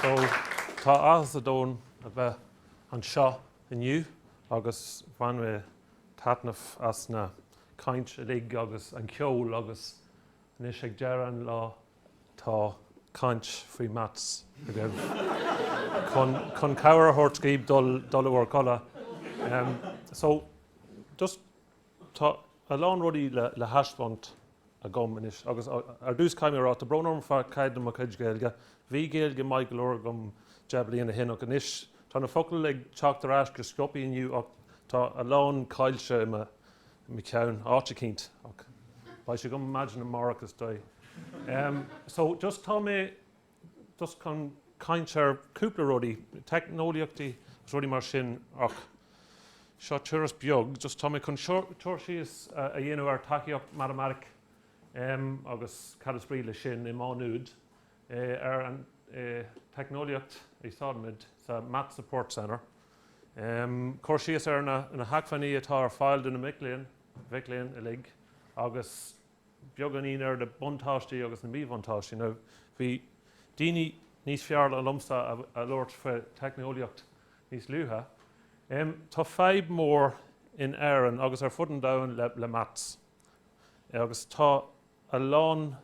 So, tá áthas an domhain a bheith anseo inniu agus bhain mé taitneamh as na caint uilig agus an ceol agus anois ag deireadh an lá, Tá caint faoi Maths agaibh chun cabhair a thabhairt daoibh dul in bhur gcodladh. So, just, tá a lán rudaí le thaispeáint agam anois agus ar dtús caithfidh mé a rá, tá brón orm fá dtaobh de mo chuid Gaeilge. Bhí Gaeilge maith go leor agam deich bliain ó shin ach anois tá na focail ag teacht ar ais go sciopaí inniu ach tá a lán caillte i mo cheann áit eicínt ach beidh sé agam maidin amárach is dóigh. Em so just tá mé just chun caint ar cúpla rudaí, teicneolaíochta agus rudaí mar sin ach seo turas beag just tá mé chun cur síos a dhéanamh ar tacaíocht mhatamaitic em agus cad is brí leis sin i Maigh Nuad eh ar an eh teicneolaíocht a úsáidimid sa Maths Support Centre. Cur síos ar na hacmhainní atá ar fáil do na mic léinn, mic léinn uilig agus beagáinín ar na buntáistí agus na míbhuntáistí. Now bhí daoine níos fearr ná liomsa ag labhairt faoi teicneolaíocht níos luaithe. Tá fadhb mór in Éirinn agus ar fud an domhain le maths. Agus tá a lán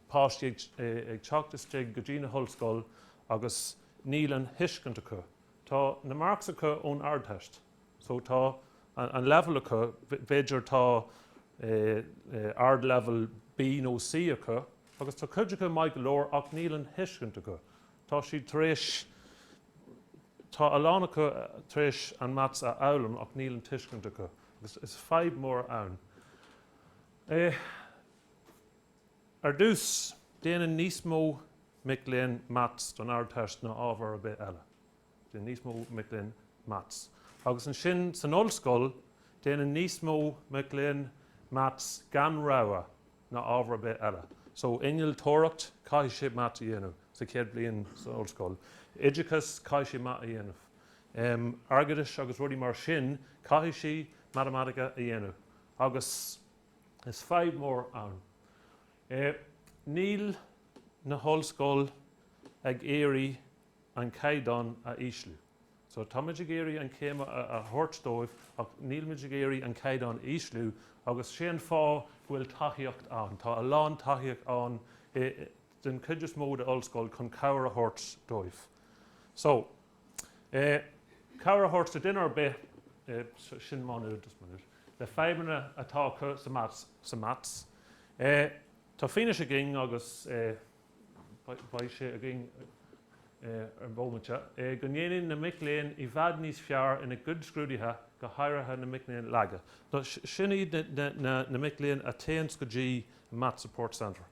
páistí ag teacht isteach go dtí na hollscoil agus níl an thuiscint acu. Tá na marks acu ón Ardteist so tá an level acu, b'fhéidir tá ard level B nó C acu agus tá cuid acu maith go leor ach níl an thuiscint acu. Tá siad tar éis, tá a lán acu tar éis an maths a fhoghlaim ach níl an tuiscint acu. agus is fadhb mhór an é. Ar dtús, déanann níos mó mic léinn maths don Ardteist ná ábhar ar bith eile. Déanann níos mó mic léinn maths. Agus ansin, san ollscoil, déanann níos mó mic léinn maths gan rogha ná ábhar ar bith eile. So innealtóireacht, caithfidh sé math a dhéanamh sa chéad bhliain san ollscoil. Oideachas, caithfidh sé math a dhéanamh. Airgeadais agus rudaí mar sin, caithfidh sé matamaitice a dhéanamh. Agus is fadhb mhór ann. Níl na hollscoil ag iarraidh an caighdeán a ísliú. So táimid ag iarraidh an chéim a thabhairt dóibh ach nílimid ag iarraidh an caighdeán a ísliú agus sé an fáth go bhfuil tacaíocht ann. Tá a lán tacaíocht ann den chuid is mó d'ollscoil chun cabhair a thabhairt dóibh. So cabhair a thabhairt do duine ar bith, sin Má Nuad, le fadhbanna atá acu sa maths. Tá fianaise againn agus. beidh sé againn ar bomaite go ndéanann na mic léinn i bhfad níos fearr ina gcuid scrúduithe, go háirithe na mic léinn laga. Sin iad na mic léinn a théanns go dtí an Maths Support Centre.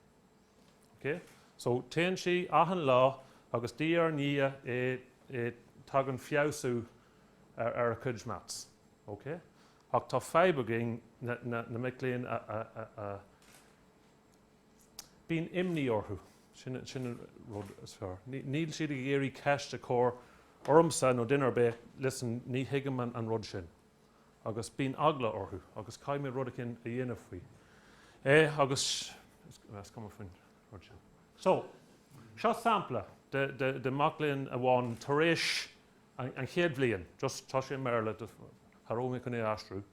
So téann sí achan lá agus diaidh ar ndiaidh tagann feabhsú ar a cuid maths. Ach tá fadhb againn na mic léinn a Bíonn imní orthu. Sin an rud is fearr. Níl siad ag iarraidh ceist a chur ormsa nó duine ar bith. Listen, ní thuigim an rud sin. Agus bíonn eagla orthu agus caithfidh mé rud éigin a dhéanamh faoi é agus is cuma faoin rud sin. So, seo sampla de mac léinn amháin tar éis an chéad bhliain, just, tá sé i mBéarla, just, cha rabh mé chun é a aistriú.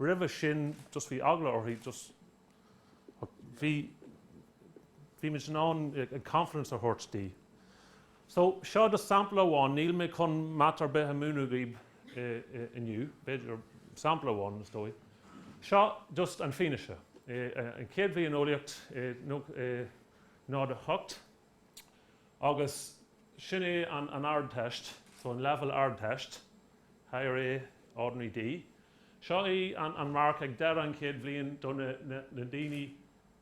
roimhe sin just bhí eagla uirthi just but bhí bhí muid in ann an confidence a thabhairt di so seo just sampla amháin níl mé chun math ar bith a múineadh daoibh inniu b'fhéidir sampla amháin is dóigh seo just an fianaise an chéad bhliain eolaíocht 08 Agus sin é an an Ardteist, so an leibhéal Ardteist, Higher A, Ordinary D. Seo é an an marc ag deireadh an chéad bhliain do na na na daoine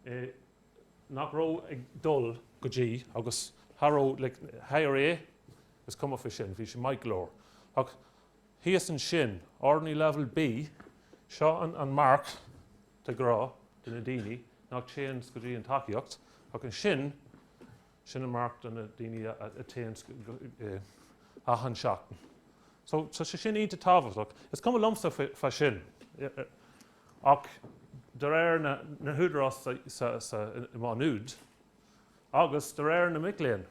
eh nach raibh ag dul go dtí agus cha raibh like Higher A is cuma faoi sin, bhí sé maith go leor. Ach thíos ansin, Ordinary Level B, seo an an marc, de ghnáth do na daoine nach dtéanns go dtí an tacaíocht ach ansin sin an marc do na daoine a théann achan seachtain so tá sé sin iontach tábhachtach. Is cuma liomsa faoi sin ach de réir na húdarás sa i Má Nuad agus de réir na mic léinn,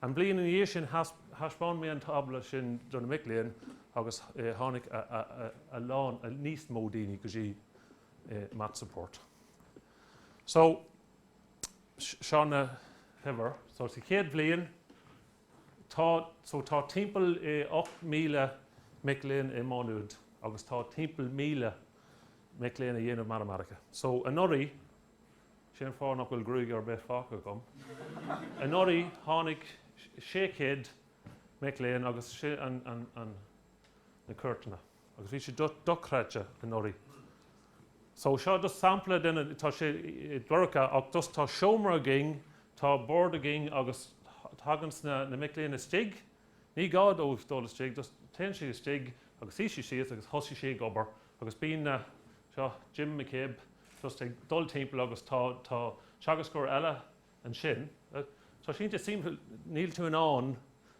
An bhliain ina dhiaidh sin, thaispeáin mé an tábla sin do na mic léinn agus tháinig a lán, níos mó daoine go dtí Maths Support. So, seo na huimhir. So, sa chéad bhliain, tá, so tá timpeall 8,000 mic léinn i Má Nuad agus tá timpeall 1,000 mic léinn a dhéanamh matamaitice. So, anuraidh, Sé an fáth nach bhfuil gruaig ar bith fágtha agam. Anuraidh tháinig 600 mic léinn agus sin an na cuairteanna agus bhí sé dochreidte anuraidh. So seo just sampla de na, tá sé dorcha ach just tá seomra againn, tá bord againn agus tagann na na mic léinn istigh, ní gá dóibh dul istigh, just téann siad istigh agus suigh siad síos agus thosaigh siad ag obair agus bíonn na Seo Jim McCabe just ag dul timpeall agus tá teagascóir eile ansin. Tá sé iontach suimiúil, níl tú in ann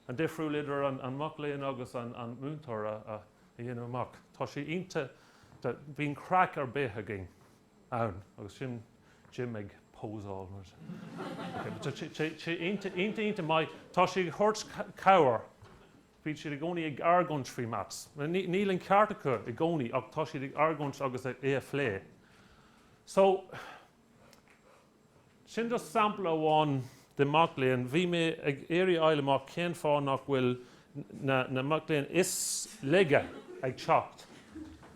an difriúil idir an mac léinn agus an múinteoir a dhéanamh amach. Tá sé iontach, bíonn craic ar bith againn ann agus sin Jim ag pósáil mar sin. Tá sé iontach iontach maith, tá sé ag thabhairt cabhair bíonn siad i gcónaí ag argóint faoi maths. Níl an ceart acu i gcónaí ach tá siad ag argóint agus é a phlé. So, sin just sampla amháin de mac léinn. Bhí mé ag iarraidh fháil amach cén fáth nach bhfuil na mic léinn is laige ag teacht.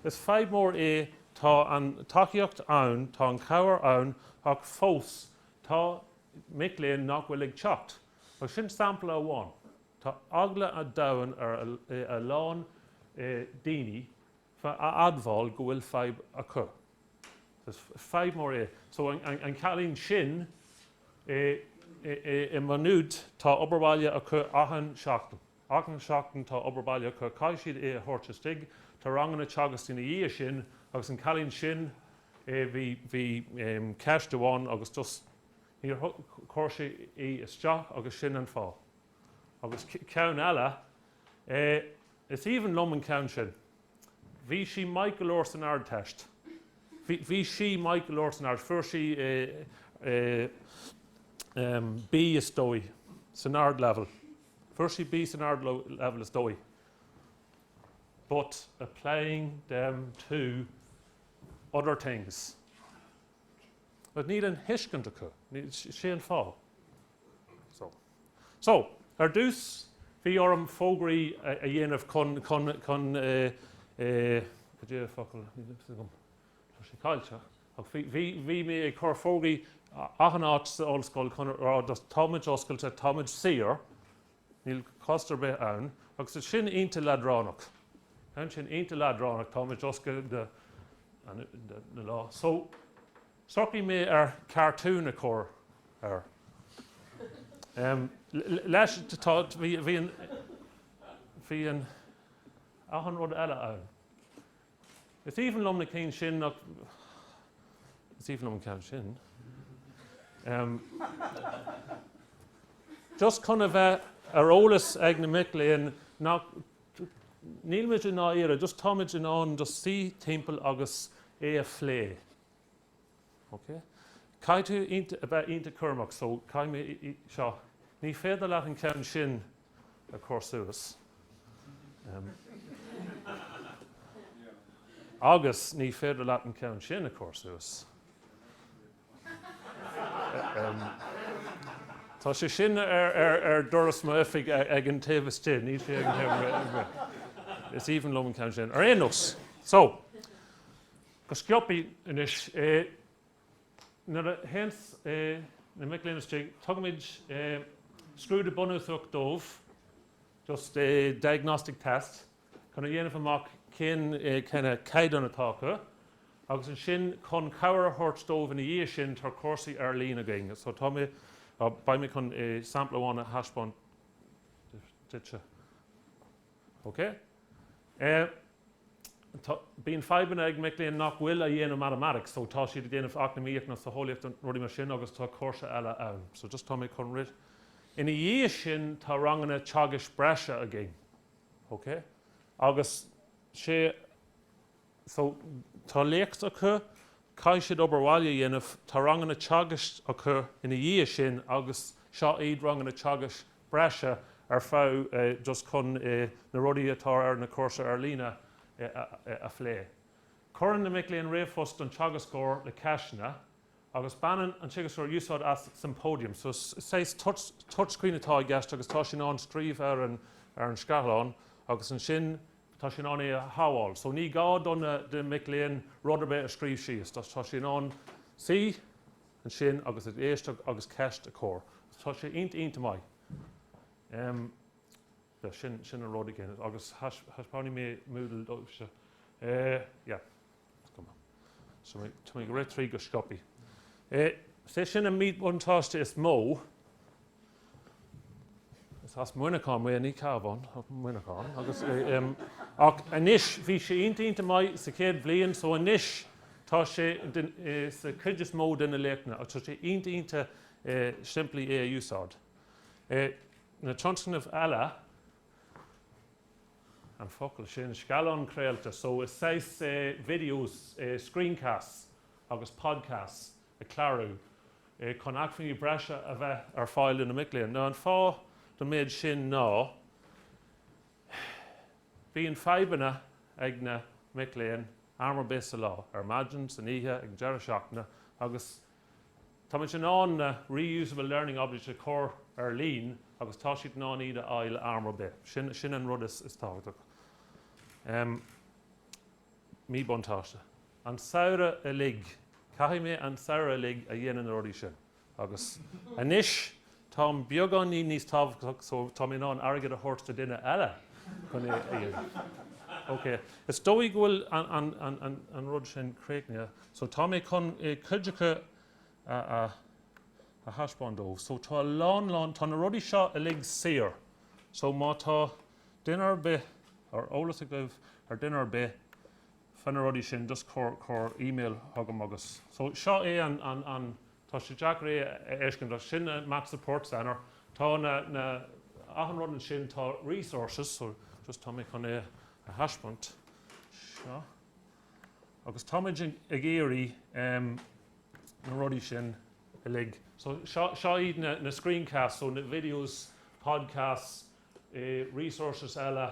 Is fadhb mór é, tá an tacaíocht ann, tá an cabhair ann ach fós tá mic léinn nach bhfuil ag teacht. Agus sin sampla amháin. Tá eagla an domhain ar a lán daoine a admháil go bhfuil fadhb acu. Is fadhb mór é. So an cailín sin i Maigh Nuad, tá obair bhaile acu achan seachtain. Achan seachtain tá obair bhaile acu. Caithfidh siad é a thabhairt istigh. Tá ranganna teagaisc ina dhiaidh sin agus an cailín sin, bhí ceist amháin agus just, Níor chuir sí í isteach agus sin an fáth. Agus ceann eile, eh, is aoibhinn liom an ceann sin. Bhí sí maith go leor san Ardteist. Bhí, bhí sí maith go leor san Ardteist. Fuair sí, eh, eh, em, B is dóigh san Ardleibhéal. Fuair sí B san Ardleibhéal is dóigh. But applying them to other things. But níl an thuiscint acu. Sé an fáth. So. So, ar dtús, bhí orm fógraí a dhéanamh chun, chun, chun eh, eh, cad é an focal, tá sé caillte. Bhí, bhí mé ag chur fógraí achan áit sa ollscoil chun rá, táimid oscailte, táimid saor, Níl cost ar bith ann agus sin iontach leadránach. Tá sin iontach leadránach, táimid oscailte na lá. So, shocraigh mé ar cartoon a chur air. Em, leis, tá, bhí, bhí an, bhí an, achan rud eile ann. Is aoibhinn liom na cinn sin nach is aoibhinn liom an ceann sin. Just chun a bheith ar eolas ag na mic léinn nach nílimid i ndáiríre, just táimid in ann just suí timpeall agus é a phlé. OK. Caithfidh tú a bheith iontach cúramach so caithfidh mé seo, ní féidir leat an ceann sin a chur suas em agus ní féidir leat an ceann sin a chur suas em tá sé sin ar, ar, ar doras m'oifig ag an taobh istigh, níl sé ag an taobh Is aoibhinn liom an ceann sin. Ar aon nós, so, go sciobtha anois nuair a théann na mic léinn istigh, tugaimid scrúdú bunúsach dóibh, just a diagnostic test, chun a dhéanamh amach cén kind of caighdeán atá acu agus ansin chun cabhair a thabhairt dóibh ina dhiaidh sin tá cúrsaí ar líne againn so tá mé, beidh mé chun sampla amháin a thaispeáint duitse. OK? Eh. tá, bíonn fadhbanna ag mic léinn nach bhfuil a' dhéanamh mathematics, so tá siad a' déanamh eacnamaíocht nó socheolaíocht nó rudaí mar sin agus tá cúrsa eile ann. So just tá mé chun rith. Ina dhiaidh sin tá ranganna teagaisc breise againn. OK? Agus is é. Tá léacht acu, caithfidh siad obair bhaile a dhéanamh, tá ranganna teagaisc acu ina dhiaidh sin agus seo iad ranganna teagaisc breise ar fad just chun na rudaí atá ar na cúrsa ar líne a phlé. Cuireann na mic léinn ríomhphost don teagascóir le ceisteanna agus baineann an teagascóir úsáid as Symposium. So is saghas touchscreen atá i gceist agus tá sé in ann scríobh ar an scáthlán agus ansin tá sé in ann é a shabháil. So ní gá do na, do mic léinn rud ar bith a scríobh síos. Tá, tá siad in ann suí ansin agus ag éisteacht agus ceist a chur. Tá sé ionta, ionta maith. Em, yeah, sin, sin an rud againn. Agus thaispeáin mé Moodle daoibhse, yeah. Tá mé ag rith tríd go sciobtha. Is é sin an míbhuntáiste is mó. Is as Muineachán mé, ní Cabhán, ach Muineachán. Agus, ach anois, bhí sé iontach iontach maith sa chéad bhliain, so anois tá sé sa chuid is mó de na léachtanna agus tá sé iontach iontach simplí é a úsáid. Na tionscnaimh eile. an focal sin, scáileán craolta, so is saghas videos, screencasts agus podcasts a clárú chun acmhainní breise a bheith ar fáil do na mic léinn. Now an fáth don méid sin ná bíonn fadhbanna ag na mic léinn am ar bith sa lá, ar maidin, san oíche, ag an deireadh seachtaine agus Táimid in ann na Reusable Learning Objects a chur ar líne agus tá siad in ann iad a fháil am ar bith. Sin an rud is tábhachtaí. Míbhuntáiste? An samhradh uilig. Caithfidh mé an samhradh uilig a dhéanamh na rudaí sin. Agus anois Táim beagáinín níos tábhachtaí so tá mé in ann airgead a thabhairt do duine eile chun é a dhéanamh. Ok, is dóigh go bhfuil an rud sin críochnaithe. So tá mé chun cuid acu a thaispeáint daoibh. So tá a lán lán, tá na rudaí seo uilig saor. So má tá duine ar bith ar eolas agaibh ar duine ar bith, faoi na rudaí sin, just cuir, cuir email chugam agus. So seo é an, an, an, tá sé deacair é a fheiscint ach sin an Maths Support Centre, tá na, na, achan rud ansin, tá resources, so just tá mé chun é a thaispeáint, seo, agus tá muid ag iarraidh ehm na rudaí sin uilig, so seo, seo iad na, na screencasts, so na videos, podcasts, eh resources eile,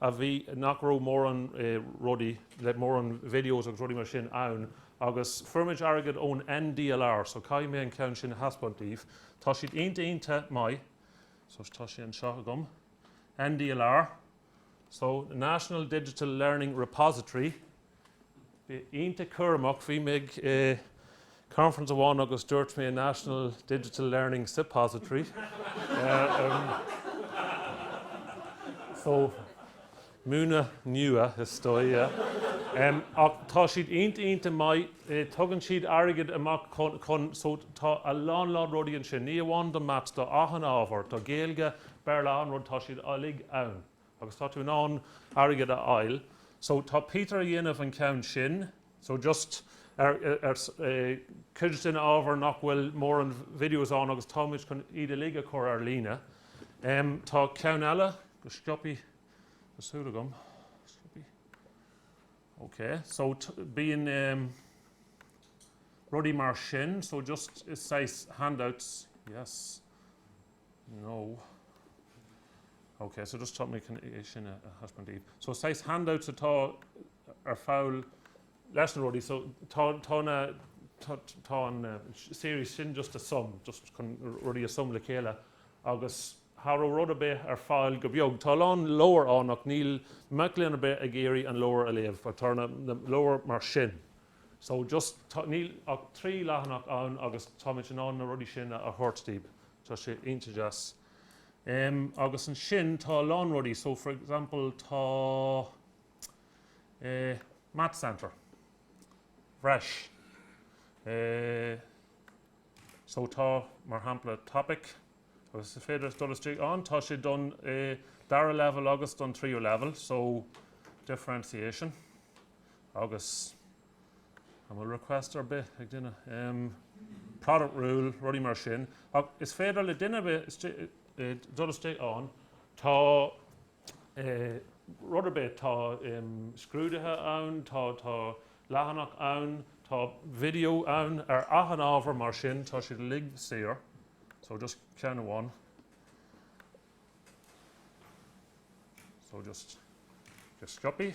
a bhí, nach raibh mórán rudaí, like mórán videos agus rudaí mar sin ann agus fuair muid airgead ón NDLR so caithfidh mé an ceann sin a thaispeáint daoibh, tá siad iontach maith so tá sé anseo agam, NDLR, so National Digital Learning Repository. Bí iontach cúramach, bhí mé ag conference amháin agus dúirt mé National Digital Learning Suppository. So, múnla nua is dóigh. Ach tá siad iontach, iontach maith, tugann siad airgead amach chun, chun, so tá a lán, lán rudaí ansin, ní amháin do maths, do achan ábhar, do Ghaeilge, Béarla, achan rud, tá siad uilig ann. Agus tá tú in ann airgead a fháil. So tá Peter a dhéanamh an ceann sin. So just ar ar cuid den ábhar nach bhfuil mórán videos ann agus táimid chun iad uilig a chur ar líne. Em tá ceann eile go sciobtha, súil agam. Sciobtha? Ok so bíonn em rudaí mar sin so just is saghas handouts. Yes. No. Ok, so just tá mé chun é sin a thaispeáint daoibh. So saghas handouts atá ar fáil leis na rudaí. So tá tá na tá tá an series sin just a sum, just chun rudaí a sum le chéile agus cha raibh rud ar bith ar fáil go beag. Tá a lán leabhar ann ach níl mac léinn ar bith ag iarraidh an leabhar a léamh. Ach tá na leabhair mar sin. So, just, tá, níl ach trí leathanach ann agus táimid in ann na rudaí sin a thabhairt daoibh. Tá sé iontach deas. Um, agus ansin tá a lán rudaí. So, for example, tá, eh, Math Centre, resources. Eh, so tá, mar shampla, Topic agus is féidir dul istigh ann. Tá sé don, eh, dara level agus don tríú level. So, Differentiation. Agus an bhfuil request ar bith ag duine? Em. product rule, rudaí mar sin. Ach is féidir le duine ar bith istigh, dul istigh ann, tá, eh, rud ar bith, tá, em, scrúduithe ann, tá, tá leathanach ann, tá video ann ar achan ábhar mar sin, tá siad uilig saor. So just ceann amháin. So just, just sciopaí.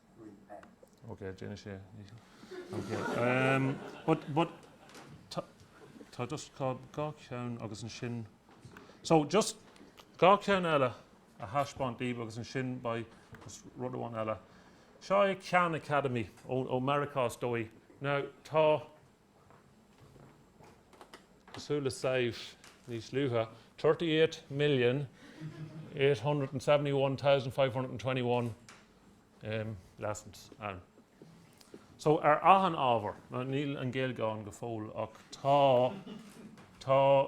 Ok, déanfaidh sé. But, but, tá, tá just cá, dhá cheann agus ansin, so just dhá cheann eile a thaispeáint daoibh agus ansin beidh just rud amháin eile. Seo é Khan Academy ó, ó Mheiriceá is dóigh. Now, tá, cosúil le Samh níos luaithe, 38,871,521 lessons ann. So ar achan ábhar, now níl an Ghaeilge ann go fóill ach tá, tá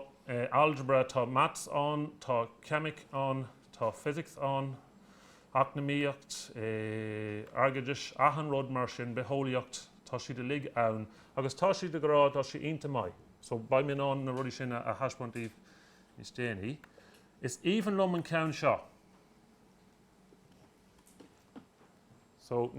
algebra, tá mats ann, tá ceimic ann, tá physics ann, eacnamaíocht, airgeadas, achan rud mar sin, bitheolaíocht, tá siad uilig ann agus tá siad ag rá, tá sé iontach maith. So, beidh mé in ann na rudaí sin a thaispeáint daoibh níos déanaí. Is aoibhinn liom an ceann seo. So,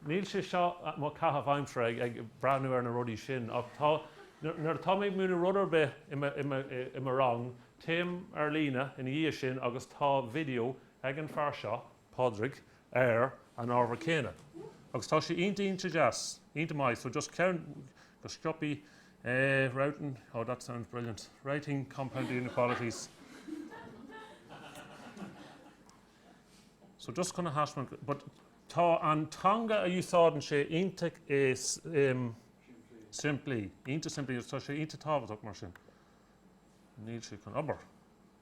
níl sé seo mo caitheamh aimsire ag breathnú ar na rudaí sin ach tá, nuair atá mé ag múineadh rud ar bith i mo rang, téim ar líne ina dhiaidh sin agus tá video Ag an fear seo, Pádraig, ar an ábhar céanna, agus tá sé iontach, iontach deas, iontach maith, so just ceann, go sciobthaí, eh, writing, oh, that sounds brilliant, writing compound inequalities, so just chun a thaispeáint, but tá an teanga a úsáideann sé iontach, em, simplí, iontach simplí, agus tá sé iontach tábhachtach mar sin. Níl sé chun obair.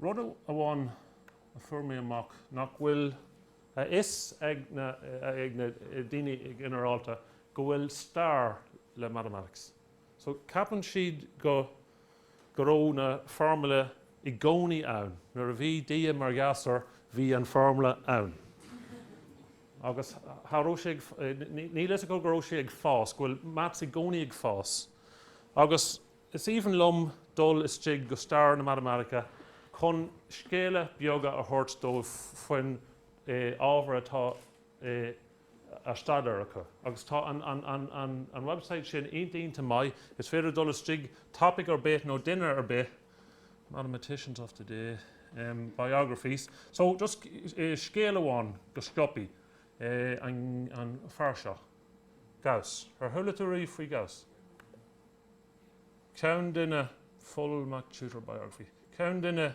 Rud amháin a fuair mé amach nach bhfuil a fhios ag na daoine go ginearálta go bhfuil stair le mathematics. So ceapann siad go go raibh na foirmle i gcónaí ann, nuair a bhí Dia mar ghasúr bhí an foirmle ann. Agus cha raibh sé ag, níl a fhios acu go raibh sé ag fás, go bhfuil maths i gcónaí ag fás. Agus. Is aoibhinn liom dul istigh go stair na matamaitice chun scéala beaga a thabhairt dóibh faoin ábhar atá á staidéar acu agus tá an website sin iontach maith, is féidir dul istigh topaic ar bith nó duine ar bith, mathematicians of today, biographies, so just scéal amháin go sciobthaí, an fear seo, Gauss, ar chuala tú riamh faoi Gauss? ceann de na full MacTutor biography ceann de na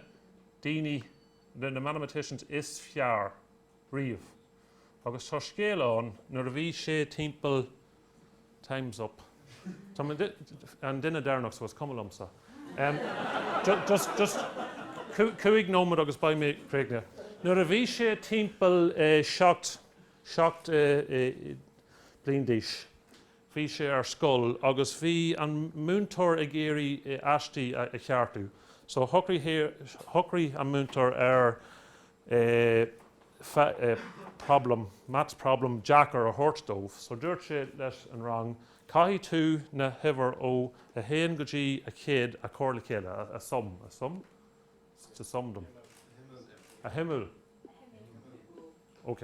daoine, de na mathematicians is fearr riamh agus tá scéal ann nuair a bhí sé timpeall time's up tá mé an duine deireanach so is cuma liomsa just just cúig nóiméad agus beidh mé críochnaithe nuair a bhí sé timpeall seacht bliain d'aois. Bhí sé ar scoil agus bhí an múinteoir ag iarraidh aistí a cheartú. So shocraigh an múinteoir ar problem, maths problem deacair a thabhairt dóibh. So dúirt sé leis an rang, caithfidh tú na huimhir ó a haon go dtí a chéad a chur le chéile, a sum, a sum? To sum them. A shuimiú. A shuimiú. A shuimiú. Ok.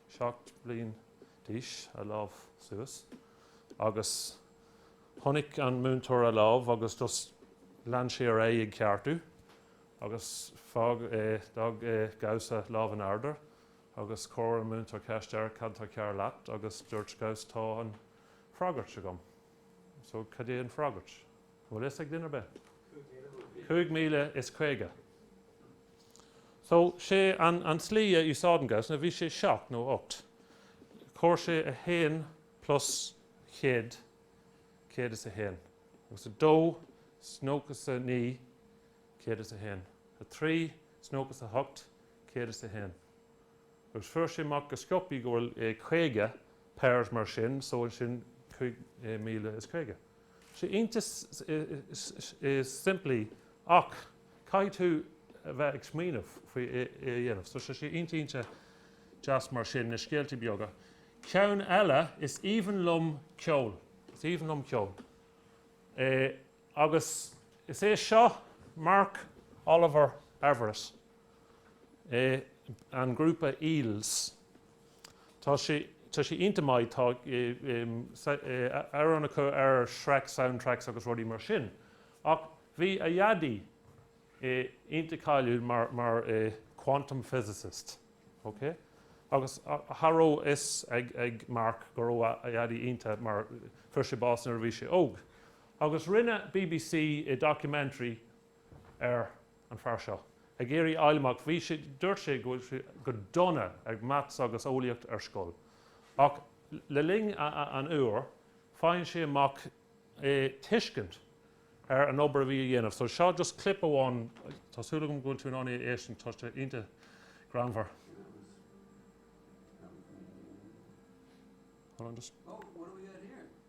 seacht bliain d'aois a lámh suas agus chonaic an múinteoir a lámh agus just lean sé ar aghaidh ag ceartú agus fág é d'fhág é Gauss a lámh in airde agus chuir an múinteoir ceist air cad tá cearr leat agus dúirt Gauss tá an freagairt agam so cad é an freagairt? An bhfuil fhios ag duine ar bith? 5050 So sé an an tslí a úsáideann Gauss ná bhí sé seacht nó ocht chomhair sé a haon plus céad céad is a haon agus a dó is nócha is a naoi céad is a haon a trí is nócha is a hocht céad is a haon agus fuair sé amach go sciobtha go bhfuil é caoga pairs mar sin so ansin 5050. Sé iontach simplí ach caithfidh tú a bheith ag smaoineamh faoi é a dhéanamh. So tá sé iontach iontach deas mar sin, na scéaltaí beaga. Ceann eile, is aoibhinn liom ceol. Is aoibhinn liom ceol. É agus is é seo Mark Oliver Everett, é an grúpa Eels. Tá sé tá sé iontach maith. Tá amhráin acu ar Shrek soundtracks agus rudaí mar sin. Ach bhí a dhaidí iontach cáiliúil mar mar quantum physicist, okay? Agus cha raibh fhios ag ag Mark go raibh a a dhaidí iontach mar fuair sé bás nuair a bhí sé óg. Agus rinne BBC documentary ar an fear seo ag iarraidh fháil amach. Bhí sé, dúirt sé go bhfuil sé go dona ag maths agus eolaíocht ar scoil. Ach le linn an uair, faigheann sé amach é tuiscint ar an obair a bhí á dhéanamh. So seo just clip amháin. Tá súil agam go bhfuil tú in ann é a éisteann. Tá sé iontach greannmhar. Hold on just.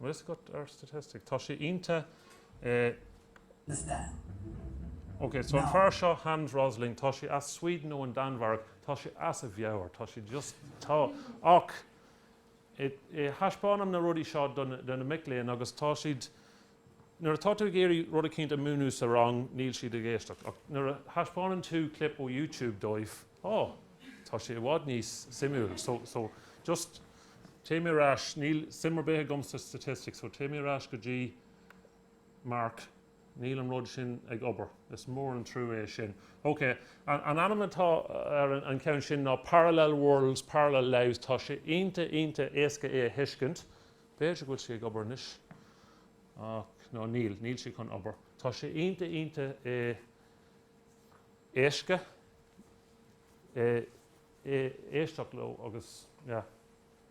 Riosca ar Staitisticí. Tá sé iontach. OK, so an fear seo, Hans Rosling, tá sé as Sweden nó an Danmhairg, tá sé as a mheabhair, tá sé just, tá, ach i, i, thaispeánaim na rudaí seo do na, do na mic léinn agus tá siad, nuair atá tú ag iarraidh rud eicínt a mhúineadh sa rang níl siad ag éisteacht ach nuair a thaispeánann tú clip ó YouTube dóibh, oh tá sé i bhfad níos suimiúil so so just téigh mé ar ais níl suim ar bith agam sa statistics so téigh mé ar ais go dtí mark níl an rud sin ag obair is mór an trua é sin ok an an ainm atá ar an ceann sin ná parallel worlds parallel lives tá sé iontach iontach éasca é a thuiscint b'fhéidir go bhfuil sé ag obair anois ach no níl níl sé chun obair tá sé iontach iontach é éasca é éisteacht leo agus yeah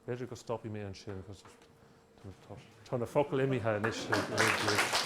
b'fhéidir go stopfaidh mé ansin because tá na focail imithe anois